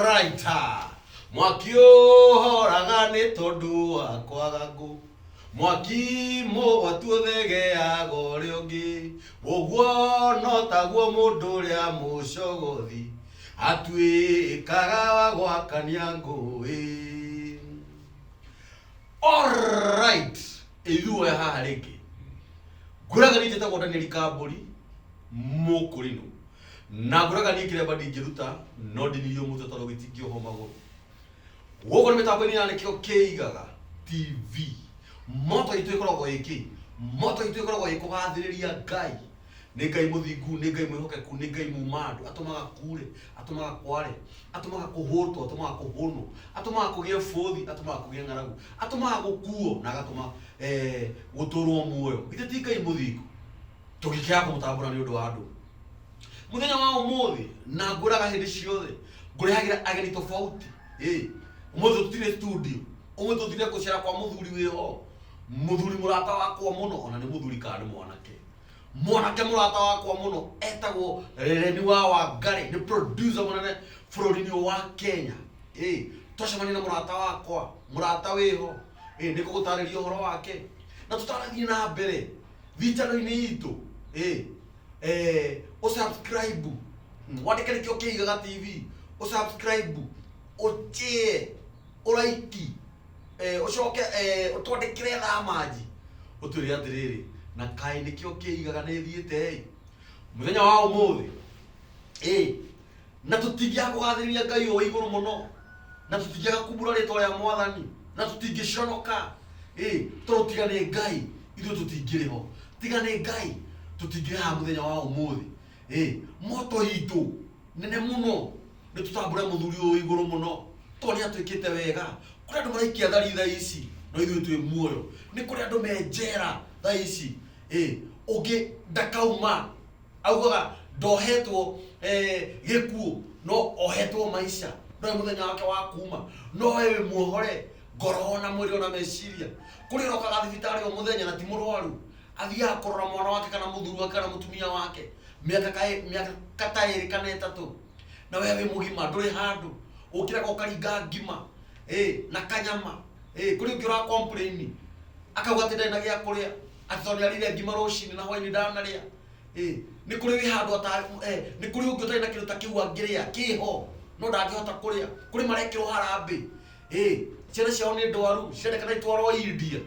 raita mwaki ũhoraga nĩ tondũ wa kwaga ngũ mwaki mũgwatu ũthegeaga ũrĩa ũngĩ ũguo no taguo mũndũ ũrĩa mũcogothi atuĩkaga wa gwakania ngũĩ Alright. Ithuĩ haha rĩngĩ. Ngũraga nĩ njĩtagwo Daniel Kambũri mũkũrinũ. Na ngũraga niĩ kĩremba ndingĩruta, no ndinirio mũtwe tondũ gĩtingĩohwo magũrũ. Gũkũ nĩ mĩtambo-inĩ ya nĩkĩo kĩigaga TV. Moto itũ ĩkoragwo ĩ kĩ? Moto itũ ĩkoragwo ĩ kũgathĩrĩria Ngai. Nĩ Ngai mũthingu, nĩ Ngai mwĩhokeku, nĩ Ngai muuma andũ. Atũmaga kuure, atũmaga kware, atũmaga kũhũtwo, atũmaga kũhũnwo, atũmaga kũgĩe bũthi, atũmaga kũgĩe ng'aragu, atũmaga gũkuo na agatũma eh, gũtũũrwo muoyo. Githĩ ti Ngai mũthingu? Tũngĩkĩaga kũmũtambũra nĩ ũndũ wa andũ, muthenya wa umuthi na nguraga hindi ciothe ngurehagira ageni tofauti Eh, umuthi tutire studio umuthi tutire gucera kwa muthuri wiho muthuri murata wakwa muno ona ni muthuri kana ni mwanake mwanake murata wakwa muno etagwo reni wa wangari ni producer munene bũrũri-inĩ ũyũ wa kenya Eh, twacemania na murata wakwa murata wiho Eh, nĩ kũgũtarĩria ũhoro wake na tũtarathiĩ na mbere thitano-inĩ itũ Eh, eh, ũsubscribe Mm, wandĩke nĩkĩo kĩigaga tv ũsubscribe ũtĩe ũraiki eh, ũcoke eh, ũtwandĩkĩre thamanji ũtwĩre atĩrĩrĩ na kaĩ nĩkĩo kĩigaga nĩthiĩte mũthenya wa ũmũthĩ ĩ na tũtingĩaga kũgathĩrĩria ngai ũyũ wa igũrũ mũno na tũtingĩaga kumbũra rĩtwa rĩa mwathani na tũtingĩconoka ĩ tondũ tiga nĩ ngai ithuĩ tũtingĩrĩ ho tiga nĩ ngai tũtingĩrĩ haha mũthenya wa ũmũthĩ ĩ moto itũ nene mũno nĩ tũtambũre mũthuri ũyũ wa igũrũ mũno tondũ nĩ atwĩkĩte wega kũrĩ andũ maraikia thari thaa ici no ithuĩ twĩ muoyo nĩ kũrĩ andũ me njera thaa ici ĩ ũngĩ ndakauma augaga ndohetwo eh, gĩkuũ no ohetwo maisha ndoĩ mũthenya wake wa kuma no we wĩ muohore ngoro ona mwĩrĩ ona meciria kũrĩ ũrokaga thibitarĩ o mũthenya na ti mũrwaru athiaga kũrora mwana wake kana mũthuri wake kana mũtumia wake mĩaka kaĩ- mĩaka kata ĩrĩ kana ĩtatũ na we wĩ mũgima ndũrĩ handũ ũkĩraga ũkaringa ngima eh, na kanyama eh, kũrĩ ũngĩ ũra complain akauga atĩ ndarĩ na gĩa kũrĩa angĩkorwo nĩ arĩire ngima rũcinĩ na hwainĩ ndanarĩa Eh, nĩ kũrĩ wĩ handũ ata- eh, nĩ kũrĩ ũngĩ ũtarĩ na kĩndũ ta kĩu angĩrĩa kĩho no ndangĩhota kũrĩa kũrĩ marekĩrwo harambĩ Eh, ciana ciao nĩ ndwaru cirendekana itwarwo india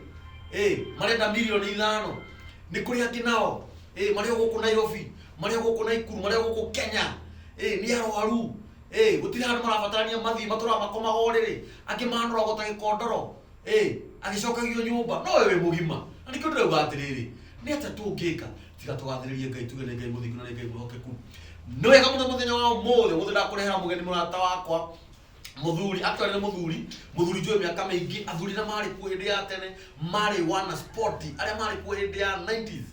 Eh, marenda milioni ithano nĩ kũrĩ angĩ nao Eh, marĩ o gũkũ nairobi marĩ o gũkũ naikuru marĩ o gũkũ kenya Eh, nĩ arwaru Eh, gũtirĩ handũ marabatarania mathiĩ matũraga makomaga ũrĩrĩ angĩ manoragwo ta gĩkondoro ĩ agĩcokagio nyũmba nowe wĩ mũgima na nĩkĩo ndĩrauga atĩrĩrĩ nĩ atĩa tũngĩka tiga tũgathĩrĩrie ngai tuge nĩ ngai mũthingu na nĩ ngai mwĩhokeku nĩ wega mũno mũthenya wa ũmũthĩ ũmũthĩ ndakũrehera mũgeni mũrata wakwa muthuri actually nĩ muthuri muthuri njũĩ mĩaka mĩingĩ athuri na marĩ kuo hĩndĩ ya tene marĩ wana sport arĩa marĩ kuo hĩndĩ ya 90s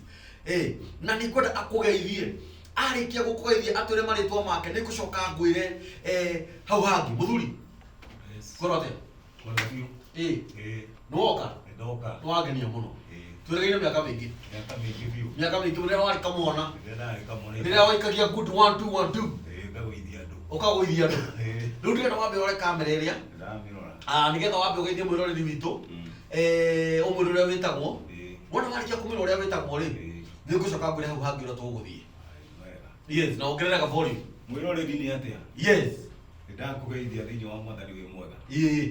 eh na nĩ ngwenda akũgeithie arĩkia gũkũgeithia atwĩre marĩtwa make nĩ ngũcoka ngwĩre eh, hau hangĩ muthuri ngorwo atĩa Ona biũ. Ĩĩ. Ĩĩ. Nĩwoka? Nĩndoka. Nĩwangenia mũno. Ĩĩ. Tweregeire mĩaka mĩingĩ. Mĩaka mĩingĩ biũ. Mĩaka mĩingĩ rĩrĩa warĩ kamwana. Rĩrĩa ndarĩ kamwana. Rĩrĩa waikagia good one two one two. Ĩĩ, ngagũithia andũ. Ũkagũithia andũ. Ĩĩ. Rĩu ndĩrenda wambe ũrore kamera ĩrĩa. Ndĩramĩrora. Ah, nĩgetha wambe ũgeithie mwĩroreri witũ. Mm. Eh, ũmwĩre ũrĩa wĩtagwo. Ĩĩ. Wona warĩkia kũmwĩra ũrĩa wĩtagwo rĩ, Ĩĩ. nĩngũcoka ngwĩre hau hangĩ ũrĩa tũgũthiĩ. Aĩ, wega. yes na ongereraga volume mwĩroreri nĩ atĩa yes nĩ ndakũgeithia thĩinĩ wa mwathani wĩ mwega ĩĩ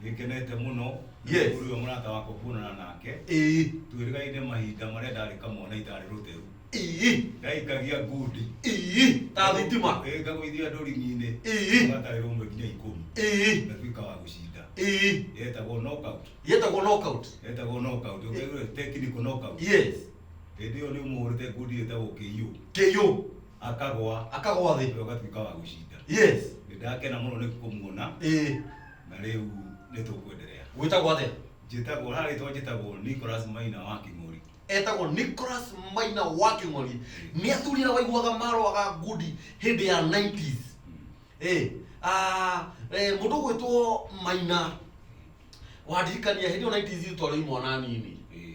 nĩ ngenete mũno Yes. ũrĩa mũrata wakwa kuonana nake ĩĩ twĩrĩgaine mahinda marĩa ndarĩ kamwana itarĩ rũteru ĩĩ ndaikagia ngundi ĩĩ ta thitima Ĩ, ngagũithia ndũringi-inĩ Ĩĩ. gatarĩ rũmwe nginya ikũmi ĩĩ ngatuĩka wa gũcinda ĩĩ yetagwo knockout yetagwo knockout yetagwo knockout ũngĩaigua technical knockout yes Hĩndĩ ĩyo nĩ ũmũhũrĩte ngundi ĩtagwo KO. KO. Akagwa. Akagwa thĩ. Rĩu agatuĩka wa gũcinda. Yes. Nĩ ndakena mũno nĩ kũmuona. Ĩĩ. Na rĩu nĩ tũkwenderea. Wĩtagwo atĩa? Njĩtagwo, harĩa rĩtwa njĩtagwo Nicholas Maina wa Kĩng'ori. Etagwo Nicholas Maina wa Kĩng'ori. Nĩ athuri arĩa waiguaga marũaga ngundi hĩndĩ ya 90s. Ĩĩ. Ah, eh, mũndũ ũgwĩtwo Maina, wandirikania hĩndĩ ĩyo 90s twarĩ o imwana nini. Ĩĩ.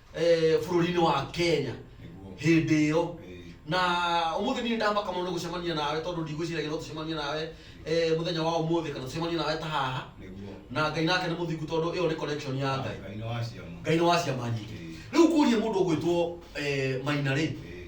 eh, bũrũri-inĩ wa kenya Nĩguo. hĩndĩ ĩyo Eh, na ũmũthĩ niĩ ndamaka mũno nĩ gũcemania nawe tondũ ndigwĩciragia no tũcemanie nawe eh, mũthenya wa ũmũthĩ kana tũcemanie nawe ta haha Nĩguo. na ngai nake nĩ mũthingu tondũ ĩyo nĩ connection ya ngai Ngai nĩ wa ciama. ngai nĩ wa ciama nyingĩ Eh, rĩu kũria mũndũ ũgwĩtwo eh, maina rĩ eh,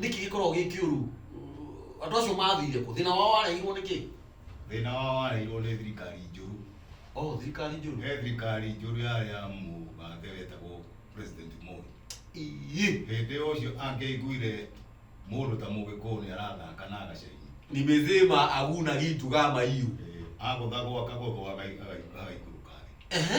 Nĩkĩ gĩkoragwo gĩ kĩũru? Andũ acio mathire kũ? Thĩna wao wareheirwo nĩ kĩ? Thĩna wao wareheirwo nĩ thirikari njũru. Oh, thirikari njũru. He thirikari njũru yarĩ ya mũgathe wetagwo President Moi. Ii. Hĩndĩ ĩyo ũcio angĩaiguire mũndũ ta mũgĩkũyũ nĩ arathaka na agacaina. Nimesema aguna gitu kama hiyo. Eh, agũthagwo akagũthwo agai- agai- agaikũrũka thĩ. Ehe.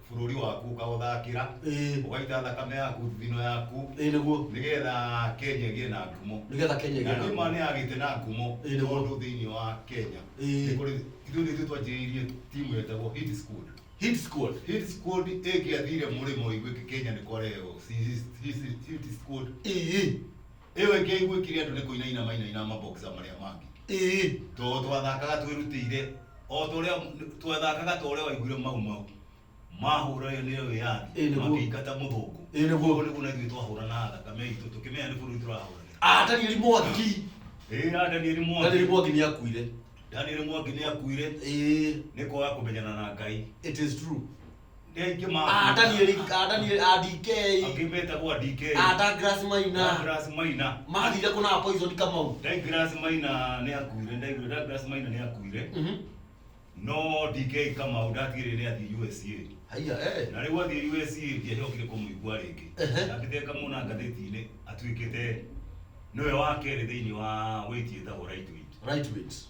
bũrũri waku ũkaũthakĩra ĩĩ ũgaita thakame yaku thithino yaku ĩĩ nĩguo nĩgetha Kenya ĩgĩe na ngumo nĩgetha Kenya na ĩgĩe na niĩ ma ngumo. nĩ agĩte na ngumo Ĩĩ, nĩguo. tondũ thĩinĩ wa Kenya Ĩĩ. nĩ kũrĩ ithuĩ nĩ ithuĩ twanjĩrĩirie timu yetagwo Hit Squad Hit squad. Hit Squad ĩngĩathire mũrĩmo ĩgwĩke Kenya nĩ kwarehwo Hit Squad Ĩĩ. ĩyo ĩngĩ aiguĩkire andũ nĩ kũinaina mainaina maboksa marĩa mangĩ ĩĩ tondũ twathakaga twĩrutĩire o ta ũrĩa twathakaga ta ũrĩa waiguire mau mau mahũranire nĩ wĩyathi Ĩĩ, nĩguo. makĩingata mũthũngũ Ĩĩ, nĩguo. Koguo nĩguo na ithuĩ twahũranaga thakame itũ tũkĩmenya nĩ bũrũri tũrahũranĩra Ah, danieli mwangi ĩĩ na danieli mwangi danieli mwangi nĩ akuire danieli mwangi nĩ akuire ĩĩ nĩ kwaga kũmenyana na ngai it is true Ngeingĩ ma. ata niä rä- ata niä rä- ata DK, Angĩ metagwo DK. ata Grace Maina Douglas Maina. mathire kå na poison kamau Douglas Maina nĩ akuire. Ndaiguire Douglas Maina nĩ akuire. Mhm. No DK Kamau ndatigĩrĩire nĩ athiĩ USA. haiya eh. Na rĩu athiĩ USA ndiacokire kũmũigua rĩngĩ. Ehe. Ndakĩte kamũona ngathĩti-inĩ atuĩkĩte nĩwe wa kerĩ thĩinĩ wa wĩti ĩtagwo Right Wing. right wings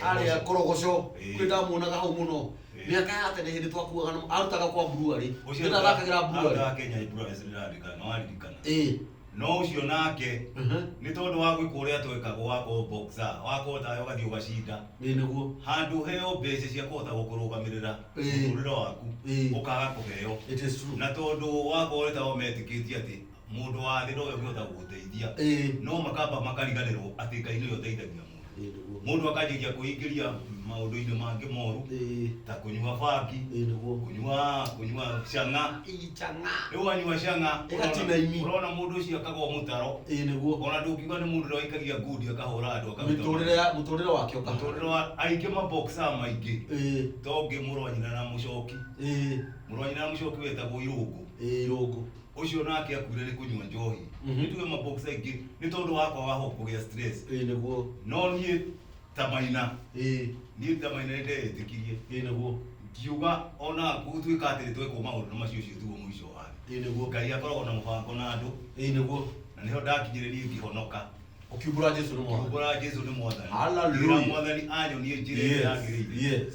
arä a korogoco Ĩĩ. kwä ndamuonaga hau må no Ĩĩ. mä aka ya tene hä ndä twakuaga na- arutaga kwa mburuarä nä ndathakagä ra mburuarä Kenya Ibrahim Sirarika no aririkana ä no ũcio nake nĩ tondũ wa gwĩka ũrĩa twekagwo wa kũboxa wakũhota we ũgathiĩ ũgacinda nä nä guo handũ heo mbeca cia kũhota gũkũrũgamĩrĩra Ĩĩ. mũtũrĩre waku Ĩĩ. ũkaga kũheo it is true na tondũ wakorwo nĩ tao metĩkĩtie atĩ Mũndũ wa thĩ ndoĩ ũngĩhota gũgũteithia. Ĩĩ. No makamba makariganĩrwo atĩ Ngai nĩwe ũteithagia mũndũ. Ĩĩ nĩguo. Mũndũ akanjĩrĩria kwĩingĩria maũndũ-inĩ mangĩ moru Ĩĩ. ta kũnyua bangi, Ĩĩ nĩguo. kũnyua kũnyua cang'a. Ii chang'a. Rĩu wanyua cang'a Ĩgatina imi. ũrona ũrona mũndũ ũcio akaga o mũtaro, Ĩĩ nĩguo. ona ndũngiuga nĩ mũndũ ũrĩa waikagia ngundi akahũra andũ akaruta Mĩtũrĩre ya mũtũrĩre wake ũkahana. mũtũrĩre wa aingĩ ma boxer maingĩ Ĩĩ. to ũngĩ mũrũ wa nyina na mũcoki. Ĩĩ. Mũrũ wa nyina na mũcoki wetagwo irũngũ. Ĩĩ irũngũ. ucio nake akuire ni kunywa njohi Mhm. nituge mabox aingi ni tondu wakwa waho kugia stress ä nä guo no niä ta maina ä niä ta maina nä ndeätĩkirie ä nä guo ngiuga ona gũtuĩka atĩ nĩ twekwo maũndũ macio ũcio tuo mũico wa thĩ ä nä guo ngai akoragwo na mũbango na andũ ä nä guo na nĩho ndakinyire niĩ ngĩhonoka å kiumbå ra jesu nä mwana kiumbũra jesu nĩ mwathani Hallelujah. Ngira mwathani anyonie njĩra ĩrĩa yagĩrĩire yes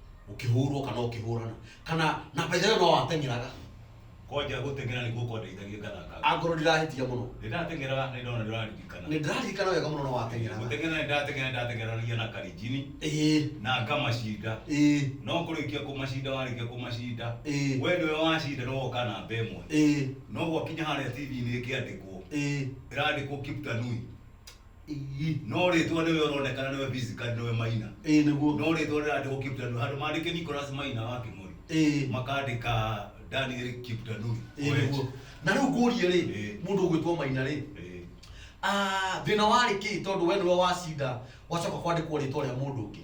ũkĩhũrwo kana ũkĩhũrana kana na by the way no wateng'eraga kwanja gũteng'era nĩguo kwandeithagia ngathaka angorwo ndirahĩtia mũno nĩndateng'eraga nĩ ndona ndĩraririkana nĩ ndĩraririkana wega mũno no wateng'eraga gũteng'era nĩndateng'era nĩndateng'eranagia na karinjini ĩĩ na ngamacinda ĩĩ no kũrĩkia kũmacinda warĩkia kũmacinda Ĩĩ. we nĩwe wacinda nĩ woka namba ĩmwe ĩĩ no gwakinya harĩa TV-inĩ ĩkĩandĩkwo ĩĩ ĩrandĩkwo Kiptanui Ii. no rĩtwa nĩwe ũronekana nĩwe physically nĩwe maina Ĩĩ nĩguo. no rĩtwa rĩrandĩkwo kiptandu handũ mandĩke nicolas maina wa kĩmori Ĩĩ. makandĩka daniel kiptandu Ĩĩ nĩguo. Na rĩu ngũrie rĩ, Ĩĩ. mũndũ ũgwĩtwo Maina rĩ, Ĩĩ. ah, thĩna warĩ kĩ tondũ we nĩwe wacinda gwacoka kwandĩkwo rĩtwa rĩa mũndũ ũngĩ?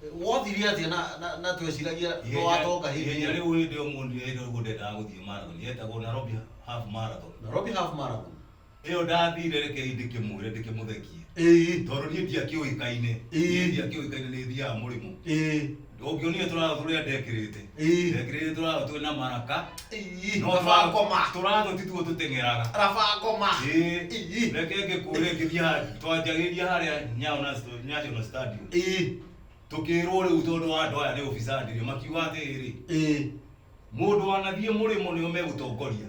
Wothirie atĩa na, na, na tweciragia no watonga hĩndĩ ihenya ĩyo? rĩu hĩndĩ ĩyo mũndũ hĩndĩ ĩyo ndendaga gũthiĩ marathon yetagwo Nairobi half marathon Nairobi half marathon. ĩyo ndathire rekei ndĩkĩmwĩre ndĩkĩmũthekie Ĩĩ, tondũ niĩ ndiakĩũĩkaine Ĩĩ. niĩ ndiakĩũĩkaine nĩ thiaga mũrĩmo ĩĩ. ũngĩonire tũratha tũrĩa ndekĩrĩte Ii. Ndekirĩte tũrago twĩ na maraka. Ii. No Rabakoma. Tũrago ti tuo tũteng'eraga. Rabakoma. Ii. Ii. Reke ngĩkũre ngĩthiĩ harĩa twanjagĩria harĩa Nyayo National- National Stadium. Ii. Tũkĩrwo rĩu tondũ wa andũ aya nĩ ũbicandĩrio makiuga atĩrĩ Ii. mũndũ wanathiĩ mũrĩmo nĩo megũtongoria.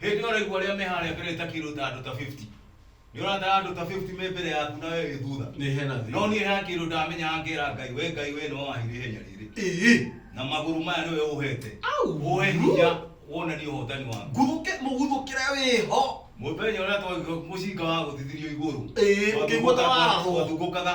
Hĩndĩ ĩyo ũraigua arĩa me harĩa mbere ta kĩndũ ta andũ ta 50. Nĩ ũratara andũ ta 50 me mbere yaku na we wĩ thutha. Nĩ hena thĩna. No niĩ hena kĩndũ ndamenyaga ngera Ngai, we Ngai we nĩwe wahire ihenya rĩrĩ. Ĩĩ. Na magũrũ maya nĩwe ũhete. Au! Ũhe hinya wonanie ũhotani waku. Nguthũke mũguthũkĩre wĩho. Mũthenya ũrĩa twa mũcinga wagũthithirio igũrũ. Ĩĩ, ũkĩigua ta warathwo. Twathungũkaga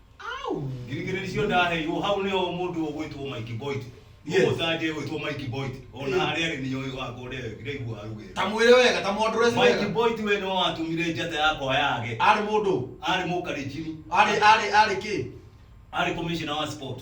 au ngirigiri icio ndaheirwo hau nĩho mũndũ ũgwĩtwo Mike Boyd Yes. mũtanje ũgwĩtwo Mike Boyd ona Eh. harĩa arĩ niyo wakwa ũrĩa ndĩraigua arugĩte ta mwĩre wega ta mwondore Mike wega Boyd we nĩwe watũmire njata yakwa yage arĩ mũndũ arĩ mũkarinjini arĩ arĩ arĩ kĩ arĩ commissioner wa sport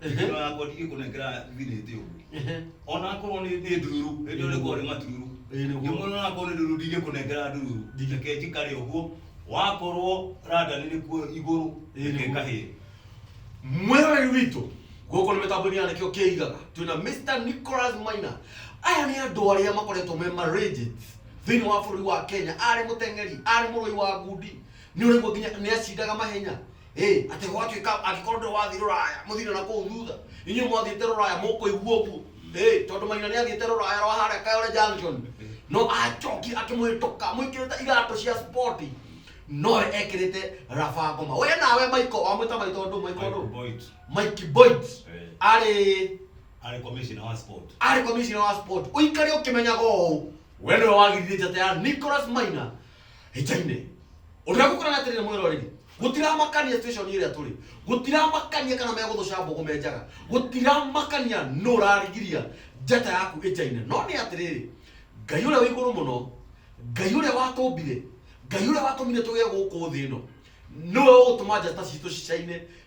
Ehe. ĩno yakwa ndigĩ kũnengera thirĩte ũguo Ehe. onakorwo nĩ nĩ ndururu ĩndĩ ũrĩ korĩ matururu Ĩĩ, nĩguo. ndĩmwe onakorwo nĩ ndururu ndigĩ kũnengera ndururu Ndigĩ. reke njikare ũguo wakorwo radani nĩ kuo igũrũ Ĩĩ, reke nĩguo. kahĩe mwĩroreri witũ gũkũ nĩ mĩtambo-inĩ ya nĩkĩo kĩigaga twĩna mr nicholas maina aya nĩ andũ arĩa makoretwo me maragents thĩinĩ wa bũrũri wa kenya arĩ mũteng'eri arĩ mũrũi wa ngundi nĩ ũraigua nginya nĩ acindaga mahenya Ĩĩ, atĩ gwatuĩka angĩkorwo ndũrĩ wathiĩ rũraya mũthire na kũu thutha inyuĩ mwathiĩte rũraya mũkũigua ũguo Ĩĩ, tondũ maina nĩ athiĩte rũraya rwa harĩa kayole junction no acokire akĩmũhĩtũka mwĩkĩrĩte iratũ cia sport nowe ekĩrĩte raba ngoma we nawe maiko wamwĩta maitũ ndũ maiko Michael ndũ Boyd. mike boit Eh. arĩ Arĩ commissioner wa sport. arĩ komishina wa sport ũikare ũkĩmenyaga ũũ we nĩwe wagiririe njata ya nicholas maina hĩnjainĩ ũrĩa gũkũrana atĩrĩ nĩ mwĩroreri gũtiramakania situation ĩrĩa tũrĩ gũtiramakania kana megũthũca mbũgũ menjaga gũtiramakania nũ ũrarigiria njata yaku ĩnjainĩ no nĩ atĩrĩrĩ ngai ũrĩa wĩ igũrũ mũno ngai ũrĩa watũmbire ngai ũrĩa watũmire tũgĩe gũkũ thĩ ĩno nĩwe ũgũtũma njata citũ cicaine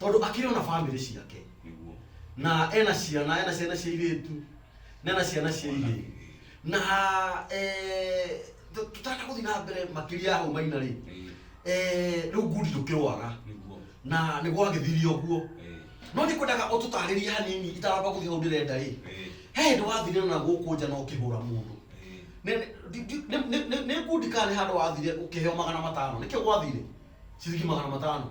tondå akĩrä ona bamĩrä ciake nĩguo na ena ciana ena ciana cia irĩtu na ena ciana cia irĩ na eh, tũ- tũtarenda gũthiĩ na mbere makĩria ya hau maina rĩ Eh, eh, rĩu ngundi ndũkĩrwara nĩguo na nĩ gwagĩthiri ũguo eh, no nĩ kwendaga ũtũtarĩrie hanini itaramba gũthiĩ hau ndĩrenda rĩ eh, he hĩndĩ wathire na gũkũ nja na ũkĩhũra mũndũ eh, Nĩ- nĩ- di- di- nĩ- nĩ- nĩ- nĩ ngundi kana nĩ handũ wathire ũkĩheo magana matano nĩkĩo gwathire ciringi magana matano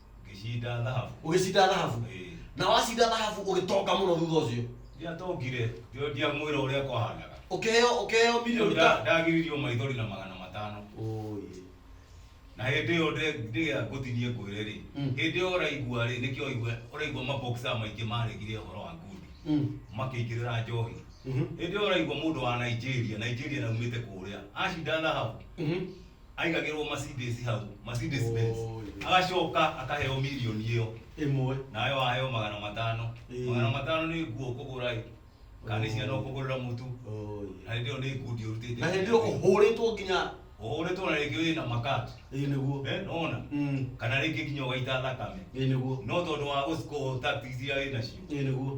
ngĩcinda thahabu ũgĩcinda thahabu Ĩĩ. na wacinda thahabu ũgĩtonga mũno thutha ũcio ndiatongire ndio ndiamwĩra ũrĩa kwahandaga ũkĩheo ũkĩheo milioni ta ndagiririo maithori na magana matano Ũyĩ. na hĩndĩ ĩyo ndĩgĩa ngũtinie ngwĩre rĩ Mm. hĩndĩ ĩyo ũraigua rĩ nĩkĩo ũigua ũraigua maboksa maingĩ maregire ũhoro wa ngundi Mm. makĩingĩrĩra njohi Mhm. hĩndĩ ĩyo ũraigua mũndũ wa nigeria nigeria naumĩte kũrĩa acinda thahabu Mhm. aigagĩrwo Mercedes hau Mercedes Oh, Benz yes. agacoka akaheo mirioni ĩyo ĩmwe nawe waheo magana matano Ĩĩ. magana matano nĩ nguo ũkũgũra ĩ kana nĩ ciana ũkũgũrĩra mũtu Oh, yes. na hĩndĩ ĩyo nĩ ngundi ũrutĩte na hĩndĩ ĩyo ũhũrĩtwo nginya ũhũrĩtwo na rĩngĩ wĩ na makati ĩĩ nĩguo Eh, nona Mm, kana rĩngĩ nginya ũgaita thakame ĩĩ nĩguo no tondũ wa gũcikũhũta ticia wĩ nacio ĩĩ nĩguo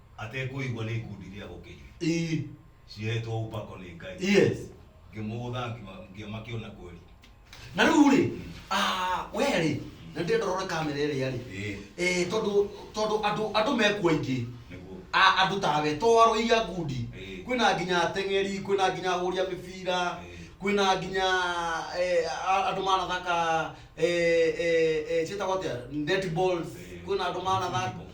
atekũigua nĩ ikundi cia gũkĩria ii cihetwo ũpako nĩ ngai yes ngĩmũgũtha ngĩma- ngĩmakĩona kweli na rĩu rĩ ah, we rĩ na ndĩrenda ũrore kamera ĩrĩa rĩ Ĩĩ. Eh, tondũ tondũ andũ andũ mekuo aingĩ nĩguo A- andũ tawe to arũi a ngundi Ĩĩ. kwĩna nginya ateng'eri kwĩna nginya ahũri a mĩbira Ĩĩ. kwĩna nginya eh, a- andũ manathaka eh, eh, eh, ciĩtagwo atĩa netballs Ĩĩ. kwĩna andũ manathaka Football.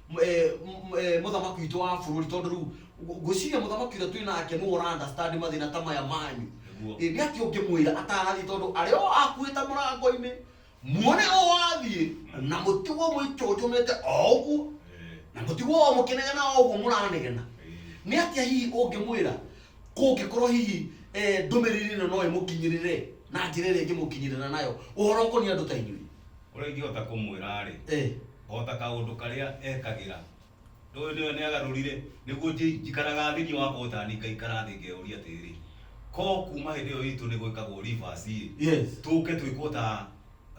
m- eh, m- eh, mũthamaki witũ wa bũrũri tondũ rĩu ngũ- ngwĩciria mũthamaki ũrĩa twĩ nake nĩwe ũrandastandi mathĩna ta maya manyu Nĩguo. Ĩ, nĩ atĩ ũngĩmwĩra atarathiĩ tondũ arĩa o akuĩte mũrango-inĩ muone o wathiĩ na mũtigwo mũitũnjũmĩte o ũguo Eh, na mũtigwo o mũkĩnegena o ũguo mũranegena eh, nĩ atĩa hihi ũngĩmwĩra kũngĩkorwo hihi eh, ndũmĩrĩri ĩno no ĩmũkinyĩrĩre na njĩra ĩrĩa ĩngĩmũkinyĩrĩra nayo ũhoro ũkoniĩ andũ ta inyuĩ ũrĩa ingĩhota kũmwĩra rĩ Eh, o ta kaũndũ karĩa ekagĩra. Ndũĩ nĩwe nĩagarũrire nĩguo njĩ- njikaraga thĩinĩ wa Othani ngaikara thĩ ngeũria atĩrĩrĩ ko kuma hĩndĩ ĩyo itũ nĩ gwĩkagwo rivasi Yes. tũke twĩkwo ta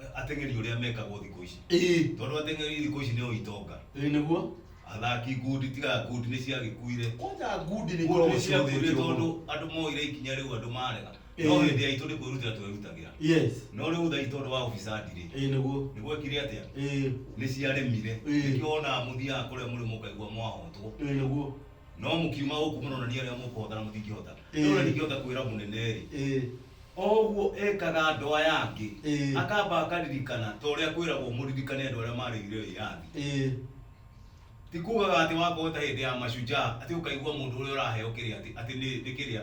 eh, ateng'eri ũrĩa mekagwo thikũ ici Ĩĩ. tondũ ateng'eri thikũ ici nĩo itonga Ĩĩ nĩguo. athaki ngundi tiga ngundi nĩ ciagĩkuire Kwanja ngundi nĩ ngundi ikoragwo nĩ ciagĩkuire cihũthĩtio tondũ mũno. andũ moire ikinya rĩu andũ marega Ĩĩ. no hĩndĩ yaitũ nĩ kwĩrutĩra twerutagĩra yes no rĩu tha itũ ũndũ wa ũbicandi rĩ ĩĩ nĩguo nĩ gwekire atĩa ĩĩ nĩ ciaremire Ĩĩ. nĩkĩo wonaga mũthiaga kũrĩa mũrĩ mũkaigua mwahotwo ĩĩ nĩguo no mũkiuma gũkũ mũronania arĩa mũkũhotana mũtingĩhota Ĩĩ. no na ndingĩhota kwĩra mũnene rĩ ĩĩ oguo ekaga andũ aya angĩ Ĩĩ. akamba akaririkana ta ũrĩa kwĩragwo mũririkane andũ arĩa marĩire wĩyathi ĩĩ ti kugaga atĩ wakorwo ta hĩndĩ ya mashujaa atĩ ũkaigua mũndũ ũrĩa ũraheo kĩrĩa atĩ atĩ nĩ nĩ kĩrĩa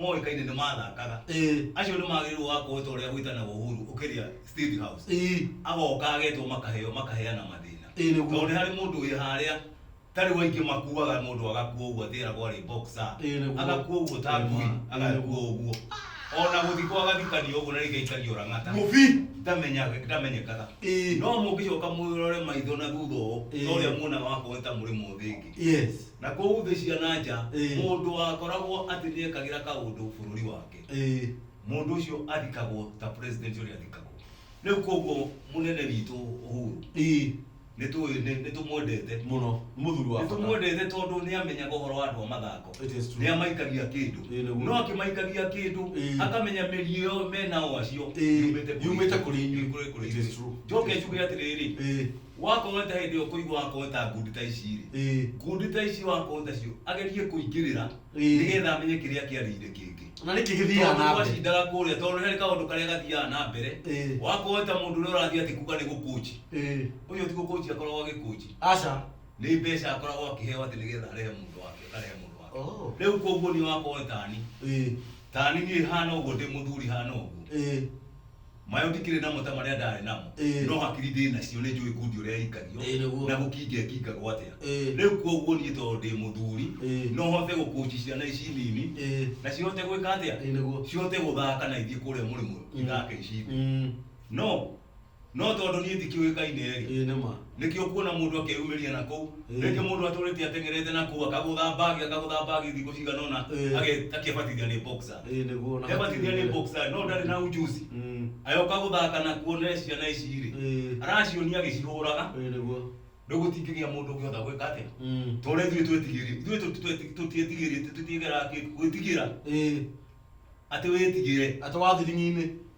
moĩkaine nĩ mathakaga Ĩĩ. acio nĩ magĩrĩirwo gũgakorwo ta ũrĩa gwĩtanagwo Uhuru ũkĩria State House Ĩĩ. agoka agetwo makaheo makaheana mathĩna Ĩĩ, nĩguo. tondũ nĩ harĩ mũndũ wĩ harĩa ta rĩu aingĩ makuaga mũndũ agakua ũguo atĩ eragwo arĩ boxer Ĩĩ, nĩguo. agakua ũguo ta Ĩĩ, ngui ma. agakua ũguo ona gũthikwo agathikanio ũguo na rĩngĩ aikarire ũrang'ata Mũbi. ndamenyaga ndamenyekaga Ĩĩ. no mũngĩcoka mwĩrore maitho na thutha ũũ Ĩĩ. ta ũrĩa muonaga wakorwo nĩ ta mũrĩ mũthĩngĩ Yes. Na kũu thĩ cia na nja, Ĩĩ. mũndũ wakoragwo atĩ nĩ ekagĩra kaũndũ bũrũri wake, Ĩĩ. mũndũ ũcio athikagwo ta president ũrĩa athikagwo. Rĩu kwoguo mũnene witũ Uhuru, Ĩĩ. nĩ tũĩ, nĩ nĩ tũmwendete. Mũno. Nĩ mũthuri wa Nĩ bata. tũmwendete tondũ nĩ amenyaga ũhoro wa andũ a mathako. It is true. Nĩ amaikagia kĩndũ. Ĩĩ, nĩguo. No akĩmaikagia kĩndũ, Ĩĩ. akamenya mĩri ĩyo me nao acio, Ĩĩ, yumĩte kũrĩ yumĩte kũrĩ inyuĩ. Kũrĩ- kũrĩ It is inyuĩ. true. Njoke It is njuge true. atĩrĩrĩ, Ĩĩ. wakorwo ta hĩndĩ ĩyo kũigua wakorwo ta ngundi ta ici rĩ Ĩĩ. ngundi ta ici wakorwo tacio agerie kũingĩrĩra Ĩĩ. nĩgetha amenye kĩrĩa kĩarĩire kĩngĩ na nĩkĩ gĩthiaga tondũ na mbere twacindaga kũrĩa tondũ nĩ harĩ kaũndũ karĩa gathiaga na mbere Ĩĩ. wakorwo ta mũndũ ũrĩa ũrathiĩ atĩ kuga nĩ gũkũnji Ĩĩ. ũcio ti gũkũnji akoragwo agĩkũnji aca nĩ mbeca akoragwo akĩheo atĩ nĩgetha arehe mũndũ wake akarehe mũndũ wake Oh. rĩu koguo niĩ wakorwo tani Ĩĩ. tani niĩ hana ũguo ndĩ mũthuri hana ũguo Ĩĩ. Mayo ndikĩrĩ namo ta marĩa ndarĩ namo, Ĩĩ. no hakiri ndĩ nacio nĩ njũĩ kundi ũrĩa ĩikagio, Ĩĩ, nĩguo. na gũkinga ĩkingagwo atĩa. Ĩĩ. Rĩu kwoguo niĩ tondũ ndĩ mũthuri, Ĩĩ. no hote gũkũci ciana ici nini, Ĩĩ. na cihote gwĩka atĩa? Ĩĩ, nĩguo. Cihote gũthaka na ithiĩ kũrĩa mũrĩmo ithake ici thĩ. Mm. No, no tondũ niĩ ndikĩũĩkaine-rĩ, Ĩĩ, nĩ ma. nĩkĩo kuona mũndũ akeyumĩria na kũu Eh. rĩngĩ mũndũ atũrĩte atengerete na kũu akagũtha mbagi akagũtha mbagi thikũ cigana ũna Eh. age- akebatithia nĩ boxer Ĩĩ nĩguo na kebatithia nĩ boxer no ndarĩ na ujuzi Mm. ayoka gũthaka na kuona ciana ici rĩ Ĩĩ. aracionia agĩcihũraga Ĩĩ nĩguo. rĩu gũtingĩgĩa mũndũ ũngĩhota gwĩka atĩa Mm. tore ithuĩ twetigĩri ithuĩ tũ- tweti- tũtiĩtigĩrĩte tũtiĩgera kĩ- gwĩtigĩra Ĩĩ. atĩ wĩtigĩre Atĩ wa thiringi-inĩ.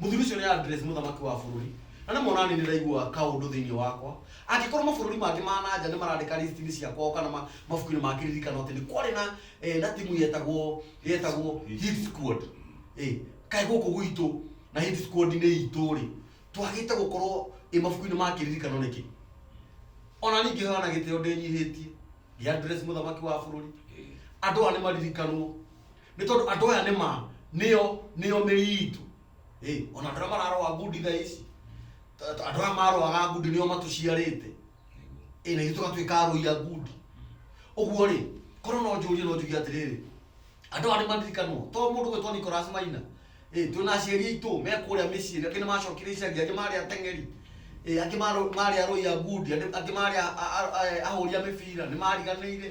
mũthuri ũcio nĩ address mũthamaki wa bũrũri na nĩ mona nĩ ndĩraigua kaũndũ thĩinĩ wakwa angĩkorwo mabũrũri mangĩ ma na nja nĩ marandĩka list-inĩ cia kwao kana ma- mabuku-inĩ ma kĩririkano atĩ nĩ kwarĩ na eh, na timu yetagwo yetagwo hit squad Eh, kaĩ gũkũ gwitũ na hit squad nĩ itũ rĩ twagĩte gũkorwo ĩ mabuku-inĩ ma kĩririkano nĩkĩ ona ningĩ hana gĩtĩo ndĩnyihĩtie ngĩ address mũthamaki wa bũrũri andũ aya nĩ maririkanwo Nĩ tondũ andũ aya nĩ ma, nĩo, nĩo mĩri itũ. Ĩ, o na andũ arĩa mararoa ngundi thaa ici, ta, ta andũ aya maroaga ngundi nĩo matũciarĩte. Ĩ, na ithuĩ tũgatuĩka arũi a ngundi. Ũguo-rĩ, korwo no njũrie no njuge atĩrĩrĩ, andũ aya nĩ maririkanwo. To mũndũ ũgwĩtwo Nicholas Maina, ĩ, twĩ na aciari aitũ me kũrĩa mĩciĩ, angĩ nĩ macokire icagi, angĩ marĩ ateng'eri, ĩ, angĩ marĩ arũi a ngundi, angĩ marĩ ahũri a mĩbira, nĩ mariganĩire.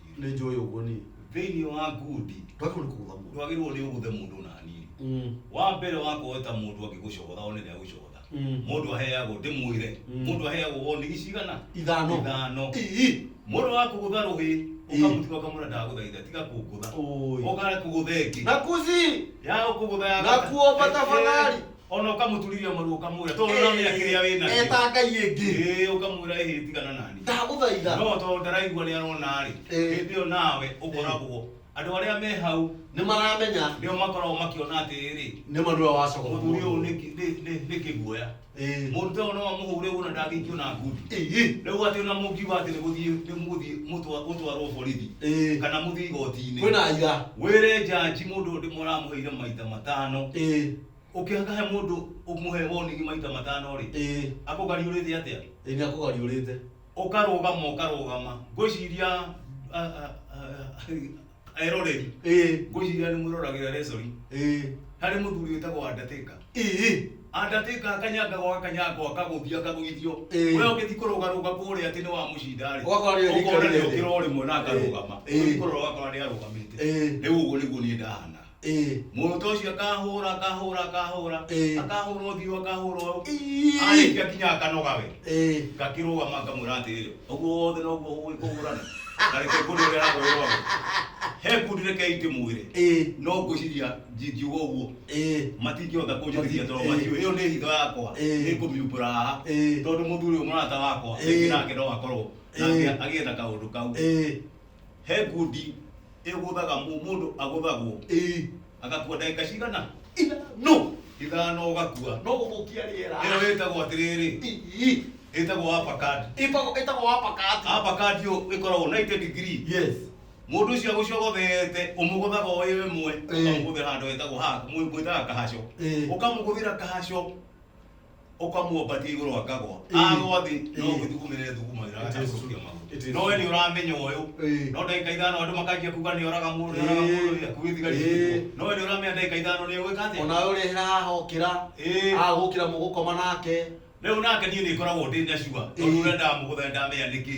nĩ njũĩ ũguo niĩ thĩinĩ wa ngundi ndwagĩrĩirwo nĩ kũgũtha mũndũ ndwagĩrĩirwo nĩ ũgũthe mũndũ ona hanini Mm, wa mbere wakorwo ta mũndũ angĩgũcogotha one nĩ agũcogotha Mm. mũndũ aheagwo ndĩmwĩre Mm. mũndũ aheagwo warning cigana ithano ithano Ii. mũndũ wa kũgũtha rũhĩ Ii. ũkamũtiga ũkamwĩra ndagũthaitha tiga kũngũtha Ũĩ. ũkare kũgũtha ĩngĩ na kuzi ya kũgũtha ya na gatatũ. kuomba tafadhali ona ũkamũturithia maru ũkamwĩra tondũ ũramenya kĩrĩa wĩ nakĩo eta ngai ĩngĩ Ĩĩ, ũkamwĩra ĩhĩ tigana nani ndagũthaitha no tondũ ndaraigua nĩ arona-rĩ Ĩĩ. hĩndĩ ĩyo nawe ũkoragwo andũ arĩa me hau nĩ maramenya nĩo makoragwo makĩona atĩrĩrĩ nĩ ma nĩwe wacogora mũthuri ũyũ nĩ kĩ- nĩ- nĩ- nĩ kĩguoya Ĩĩ. mũndũ ta ũyũ no amũhũre ũguo na ndangĩikio na ngundi Ĩĩ. rĩu atĩ ona mũngiuga atĩ nĩgũthiĩ nĩmũgũthiĩ mũtwa- mũtwarwo borithi Ĩĩ. kana mũthiĩ igooti-inĩ kwĩna ira wĩre njanji mũndũ ũyũ ndĩmũramũheire maita matano Ĩĩ. ũkĩhaka he mũndũ ũmũhe warning maita matano rĩ ĩĩ akũgariũrĩte atĩa ĩĩ nĩ akũgariũrĩte ũkarũgama ũkarũgama ngwĩciria ah, ah, ah, eroreri ĩĩ ngwĩciria nĩ mwĩroragĩra resori ĩĩ harĩ mũthuri wĩtagwo andatĩka ĩĩ andatĩka akanyangagwo akanyangwo akagũthio akagũithio Ĩĩ. we ũgĩthi kũrũgarũga kũrĩa atĩ nĩ wa mũcinda rĩ Ũgakora nĩ ũkona aikarire nĩ thĩ. ũkĩra o rĩmwe na akarũgama Ĩĩ. ũgĩthi kũrora ũgakora nĩ arũgamĩte Ĩĩ. rĩu ũguo nĩguo niĩ ndahana ĩĩ mũrũta ũcio akahũra akahũra akahũra Ĩĩ. akahũra ũthiũ akahũra ũyũ Ii. arĩkia kinya akanoga we ĩĩ ngakĩrũgama ngamwĩra atĩrĩrĩ ũguo wothe noguo ũĩ kũhũrana na reke ngũrĩ ũrĩa aragwĩrwo he ngundi reke itĩ mwĩrĩ ĩĩ no ngwĩciria ndingiuga ũguo ĩĩ matingĩhota kũnjĩtĩkia tondũ Ĩĩ. matiũĩ ĩyo nĩ hitho yakwa Ĩĩ. nĩ kũmiumbũra haha Ĩĩ. tondũ mũthuri ũyũ mũrata wakwa Ĩĩ. rĩngĩ nake no akorwo Ĩĩ. nake agĩetha kaũndũ kau ĩĩ he ngundi ĩgũthaga mũ- mũndũ agũthagwo ĩĩ agakua ndagĩka cigana ithano ithano ũgakua no gũthũkia rĩera ĩyo ĩtagwo atĩrĩrĩ Ii. ĩtagwo uppercut Ĩtagwo- ĩtagwo wapakati uppercut ĩyo ĩkoragwo 90 degree yes mũndũ ũcio agũcogothete ũmũgũthaga o ĩyo ĩmwe Ĩĩ. ũkamũgũthĩra handũ hetagwo haka mwĩtaga kahaco Ĩĩ. ũkamũgũthĩra kahaco ukamuomba ti iguru akagwa agwa thi no ngithu kumire thu kumira akacukia magu no we ni uramenya uyu no ndagika ithano andu makanjia kuga ni oraga mundu ni oraga mundu ni akuwi thigari no we ni uramenya ndagika ithano ni ugwika atia ona uri hira hokira agukira mugukoma nake riu nake nie ni ngoragwo ndi na sure tondu uria ndamuguthira ndamenya niki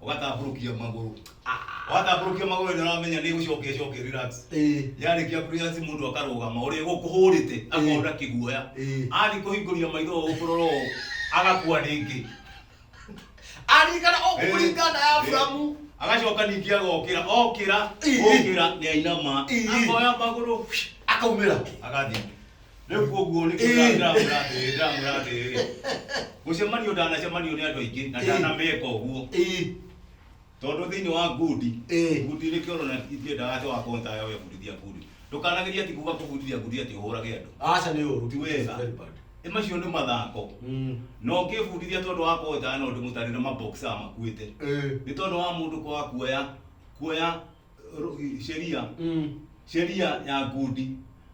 ũgatambũrũkia magũrũ watambũrũkia magũrũ nĩ ũramenya nĩ gũcokia cokia relax Eh. yarĩkia kũrĩa si mũndũ akarũgama ũrĩa gũkũhũrĩte akona kĩguoya Eh. athiĩ kũhingũria maitho ũũ kũrora ũũ agakua rĩngĩ Arikana o Eh. kũringana ya Abrahamu. Eh. agacoka ningĩ agokĩra okĩra Eh. okĩra nĩ ainama Eh. akoya magũrũ Akaumĩra. agathiĩ rĩu koguo nĩ Ĩĩ. ndĩramwĩra atĩrĩrĩ ndĩramwĩra atĩrĩrĩ gũcemanio ndanacemanirio nĩ andũ aingĩ na Ĩĩ. ndanameka ũguo ĩĩ tondũ thĩinĩ wa ngundi Ĩĩ. ngundi nĩ kĩoro na ithiĩ ndawa wa konta ya webundithia ngundi ndũkanageria ti kuga kũbundithia ngundi atĩ ũhũrage andũ aca nĩ ũru ti wega Very bad. Ĩ macio nĩ mathako Mm. na ũngĩbundithia tondũ wa konta no ndĩmũtarĩre maboxa makuĩte Ĩĩ. nĩ tondũ wa mũndũ kwaga kuoya kuoya ru- sheria Mm. sheria ya ngundi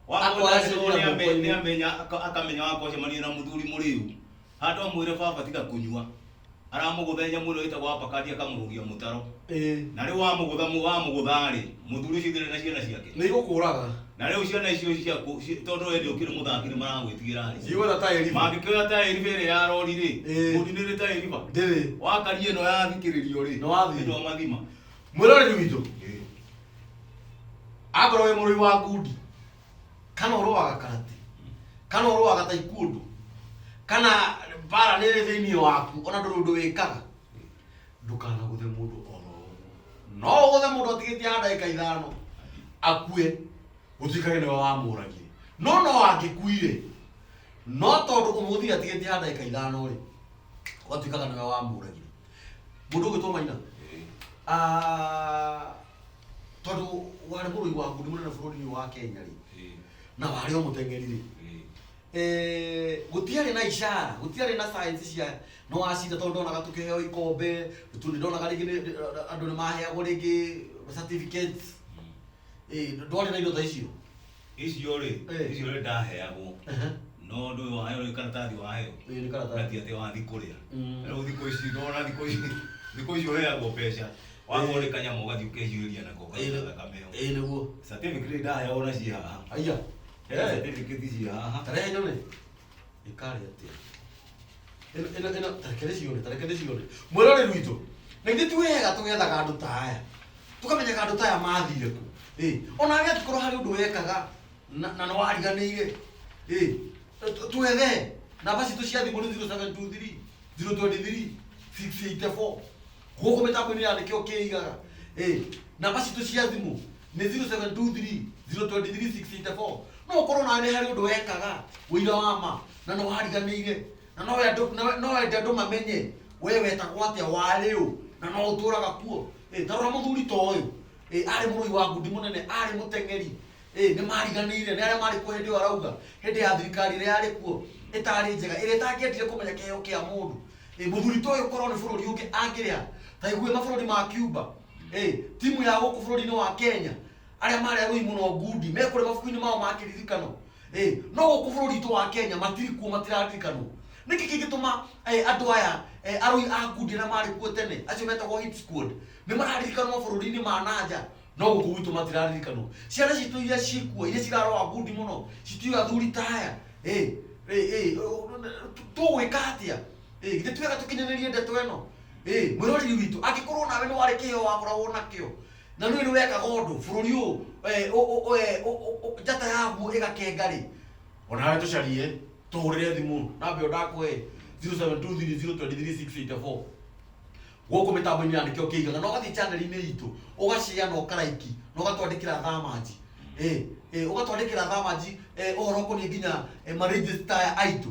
Akoacĩria mũkũyũ. nĩamenya akamenya wakocemania na mũthuri mũrĩu handũ amwĩre baba tiga kũnyua aramũgũthenya mũno ĩtagwo apakati akamũrũgia mũtaro Eh. na rĩu wamũgũtha mũ- wamũgũtha-rĩ mũthuri ũcio ndĩrĩ na ciana ciake nĩ igũkũraga na rĩu ciana icio ciaku ci- tondũ wendĩ ũkĩrĩ mũthaki nĩ maragwĩtigĩra-rĩ ndigwetha ta eriba mangĩkĩoya ta ĩriba ĩrĩa ya rori-rĩ Eh. mũndinĩrĩ ta ĩriba ndĩrĩ wakari ĩno yathikĩrĩrio-rĩ Nĩ wathima. nĩtwamathima mwĩroreri witũ akorwo wĩ mũrũi wa ngundi kana ũrũaga karati kana ũrũaga ta ikuũndũ kana bara nĩ ĩrĩ thĩinĩ waku ona ndũrĩ ũndũ wĩkaga ndũkanagũthe mũndũ oro ũguo no ũgũthe mũndũ atigĩtie ha ndagĩka ithano akue gũtuĩkage nĩwe wamũragire no no angĩkuire no tondũ ũmũthĩ atigĩtie ha ndagĩka ithano rĩ ũgatuĩkaga nĩwe wamũragire mũndũ ũgwĩtwo maina Ah, tondũ warĩ mũrũi wa ngundi mũnene bũrũri-inĩ wa kenya rĩ na warĩ o mũteng'eri rĩ Eh, gũtiarĩ na ishara gũtiarĩ na science cia nĩ wacinda tondũ ndonaga tũkĩheo ikombe tu nĩ ndonaga rĩngĩ nĩ- nĩ- andũ nĩ maheagwo rĩngĩ certificates Eh, ndwarĩ na indo ta icio icio rĩ Eh. icio rĩ ndaheagwo Ehe. no ndå yå waheo nä karatathi waheo Ĩĩ, nĩ karatathi. nati atä wathi kå rä a Mm. rä u thikå ici ndona thikå ici thikå ici å heagwo mbeca wakorwo nä kanyama å gathiä å kehiå ria nako kaita thakame ĩyo Ĩĩ, nĩguo certificate ndaheagwo na ciĩ haha aya Eh, certificate ciĩ haha tarehe nyone ĩkarĩ atĩa ĩno ĩno ĩno tareke ndĩcione tareke ndĩcione mwĩrorĩ witũ na ithuĩ ti wega tũgethaga andũ ta aya tũkamenyaga andũ ta aya mathire kũ ĩ ona arĩa angĩkorwo harĩ ũndũ wekaga na na nĩ wariganĩire ĩ tũ- twethe namba citũ cia thimũ nĩ 0723 023 684 gũkũ mĩtambo-inĩ ya nĩkĩo kĩigaga ĩ namba citũ cia thimũ nĩ 0723023684 no ũkorwo nawe harĩ ũndũ wekaga ũira wa ma na no wariganĩire na no wende andũ- na- no wende andũ mamenye we wetagwo atĩa warĩ ũ na no ũtũraga kuo Eh, ta rora mũthuri ta ũyũ Eh, arĩ mũrũi wa ngundi mũnene arĩ mũteng'eri Eh, nĩ mariganĩire nĩ arĩa marĩ kuo hĩndĩ ĩyo arauga hĩndĩ ya thirikari ĩrĩa yarĩ kuo ĩtarĩ njega ĩrĩa ĩtangĩendire kũmenya kĩheo kĩa mũndũ Eh, mũthuri ta ũyũ korwo nĩ bũrũri ũngĩ angĩrĩa ta igue mabũrũri ma Cuba Hey, timu ya gũkũ bũrũri-inĩ wa kenya arĩa marĩ arũi mũno ngundi me kũrĩa mabuku-inĩ mao ma kĩririkano hey, no gũkũ bũrũri witũ wa kenya matirĩ kuo matiraririkanwo nĩkĩ kĩngĩtũma hey, andũ aya hey, arũi a ngundi arĩa marĩ kuo tene acio metagwo hit squad nĩ mararirikanwo bũrũri-inĩ ma nanja no gũkũ gwitũ matiraririkanwo ciana citũ iria cikuo iria ciraroa ngundi mũno citiũĩ athuri ta aya hey, hey, hey, tũgwĩka atĩa Ĩ, githĩ ti wega tũkinyanĩrie ndeto ĩno Ĩ, mwĩroreri witũ angĩkorwo nawe nĩ warĩ kĩheo wakoragwo nakĩo na nĩ nĩ wekaga ũndũ bũrũri ũyũ eh, ũ- ũ- ũ- eh, ũ- ũ- ũ- njata yaguo ĩgakenga rĩ onawe tũcarie tũhũrĩre thimũ namba ĩyo ndakũhe 0723023684 gũkũ mĩtambo-inĩ ya nĩkĩo kĩigaga na ũgathiĩ chaneli-inĩ itũ ũgacea na ũkaraiki na ũgatwandĩkĩra thamanji Eh, eh, ũgatwandĩkĩra thamanji eh, ũhoro ũkoniĩ nginya eh, marĩnjĩsta aitũ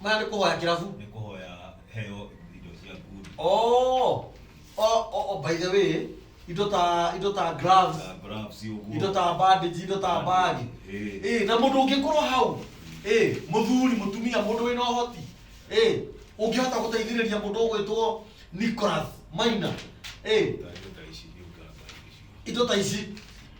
maya nĩ kũhoya kĩrabu nĩ kũhoya heo indo cia ngundi oh oh oh oh, by the way indo ta indo ta gloves na gloves ũguo indo ta bandage indo ta bag Eh. eh na mũndũ ũngĩkorwo hau eh mũthuri mũtumia mũndũ wĩna ũhoti eh ũngĩhota gũteithĩrĩria mũndũ ũgwĩtwo Nicholas Maina eh Indo ta ici nĩ ũganga icio indo ta ici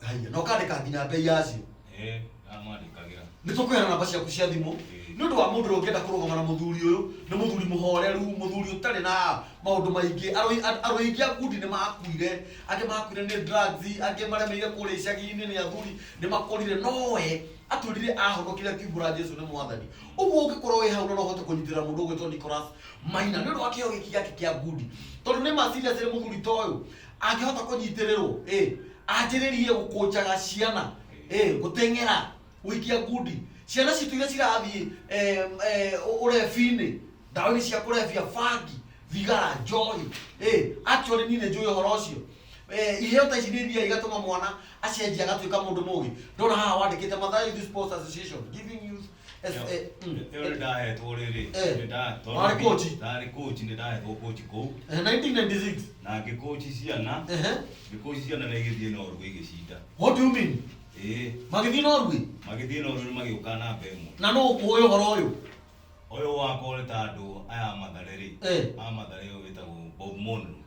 haya na ũkandĩka nginya mbei yacio Eh, amwandĩkagĩra. nĩ tũkũheana namba ciaku cia thimũ Eh. nĩ ũndũ wa mũndũ ũrĩa ũngĩenda kũrũgama na mũthuri ũyũ nĩ mũthuri mũhoreru mũthuri ũtarĩ na maũndũ maingĩ Arũi- a- arũi aingĩ a kundi nĩ makuire angĩ makuire nĩ drugs angĩ maremeire kũrĩa icagi-inĩ nĩ athuri nĩ makũrire nowe atwĩrire ahonokire akiumbũra jesu nĩ mwathani ũguo ũngĩkorwo wĩ hau na no ũhote kũnyitĩra mũndũ ũgwĩtwo nicolas maina nĩ ũndũ wa kĩo gĩki gĩake kĩa ngundi tondũ nĩ meciria cirĩ mũthuri ta ũyũ angĩhota kũnyitĩrĩrwo ĩ anjĩrĩrie gũkũnjaga ciana ĩ gũteng'era gũikia ngundi ciana citũ iria cirathiĩ eh, eh, ũrebi-inĩ ndawa-inĩ cia kũrebia bangi thigara njohi ĩ actually niĩ nĩ njũĩ ũhoro ũcio Eh, iheo ta ici nĩ iria igatũma mwana acenjia agatuĩka mũndũ mũgĩ ndona haha wandĩkĩte Mathare Youth Sports Association giving youth Yes, Yo. eh, mm, Ĩyo nĩ eh, ndahetwo rĩrĩ Eh. nĩ nda- tondũ Warĩ coach? ndarĩ coach nĩ ndahetwo coach kũu eh, 1996 na ngĩkoci ciana Ehe. ngĩkoci ciana na igĩthiĩ na orũgũ igĩcinda what do you mean ĩĩ magĩthiĩ norway magĩthiĩ na orũgũ magĩũka namba ĩmwe na no ũkũũĩ ũhoro ũyũ ũyũ wakore ta andũ aya matharĩ rĩ Eh. a matharĩ ũyũ wĩtagwo bob monro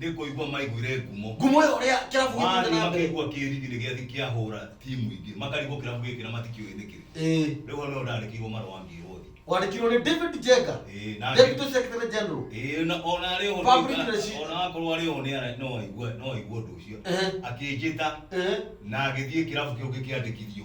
nä kå igua maiguire ngumo ngumo ĩyo ũrĩa kĩrabu gĩthiĩte marĩ na mbere makaigua kä riri nä gä athiä kä ahå ra timu ingä makarigwo kä rabu gä kä na matikä å ä nä kä rä Ĩĩ. rä u hau nä ndandä kä irwo marå ngä rwo thiä wandĩkirwo nĩ david jenga Ĩĩ, na- deputy secretary general Ĩĩ, na- ona arĩ ho Public nĩ- relations. ona akorwo arĩ ho nĩ ara- no aigue no aigue ũndũ ũcio Ehe. akĩnjĩta Ehe. na agĩthiĩ kĩrabu kĩu ngĩkĩandĩkithio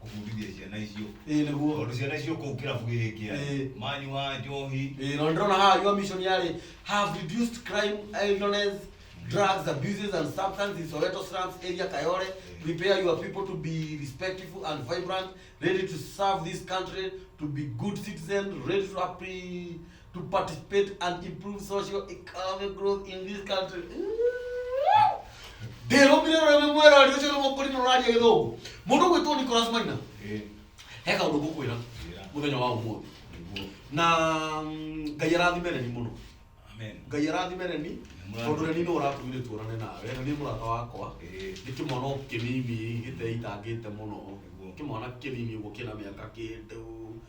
kũbundithia ciana icio ĩĩ nĩguo tondũ ciana icio kũu kĩrabu gĩkĩ Ĩĩ. manyua njohi ĩĩ no ndĩrona haha your mission yarĩ have reduced crime idleness drugs abuses and substance in soweto slums area kayore prepare your people to be respectful and vibrant ready to serve this country to be good citizen ready to appre to participate and improve social economic growth in this country ndĩrũmire rũrĩmĩ mwera arĩ ũcio nĩmũkũri rũraria gĩthũngũ mũndũ gwĩtwo nicolas maina he kaũndũ ngũkwĩra mũthenya wa ũmũthĩ na mm, ngai arathime reni mũno ngai arathime reni tondũ reni nĩ ũratũmire tuonane nawe reni nĩ mũrata wakwa nĩ kĩmwana o kĩnini gĩteitangĩte mũno kĩmwana kĩnini ũguo kĩna mĩaka kĩndũ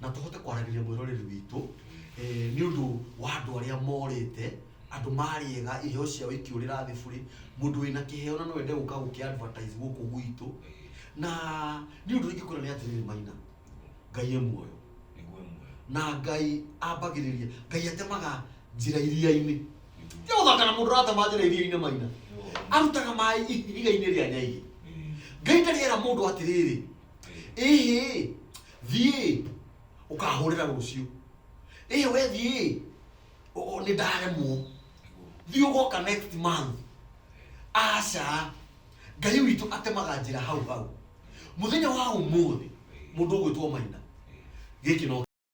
na tũhote kwaragĩria mwĩroreri witũ eh, nĩ ũndũ wa andũ arĩa morĩte andũ marĩega iheo ciao ikĩũrĩra thĩ burĩ mũndũ wĩna kĩheo na no ende gũka gũkĩ advertise gũkũ gwitũ na nĩ ũndũ ingĩkwĩra nĩ atĩrĩrĩ maina ngai e muoyo nĩguo muoyo na ngai ambagĩrĩria ngai atemaga njĩra iria-inĩ nĩ gũthaka na mũndũ ũratema njĩra iria-inĩ maina arutaga maĩ ihiga-inĩ rĩa nyaigĩ ngai ndarĩera mũndũ atĩrĩrĩ ĩhĩ thiĩ ũkahũrĩra rũciũ ĩhĩ we thiĩ ũ- ũ- nĩ ndaremwo thiĩ ũgoka next month aca ngai witũ atemaga njĩra hau hau mũthenya wa ũmũthĩ mũndũ ũgwĩtwo maina gĩkĩ no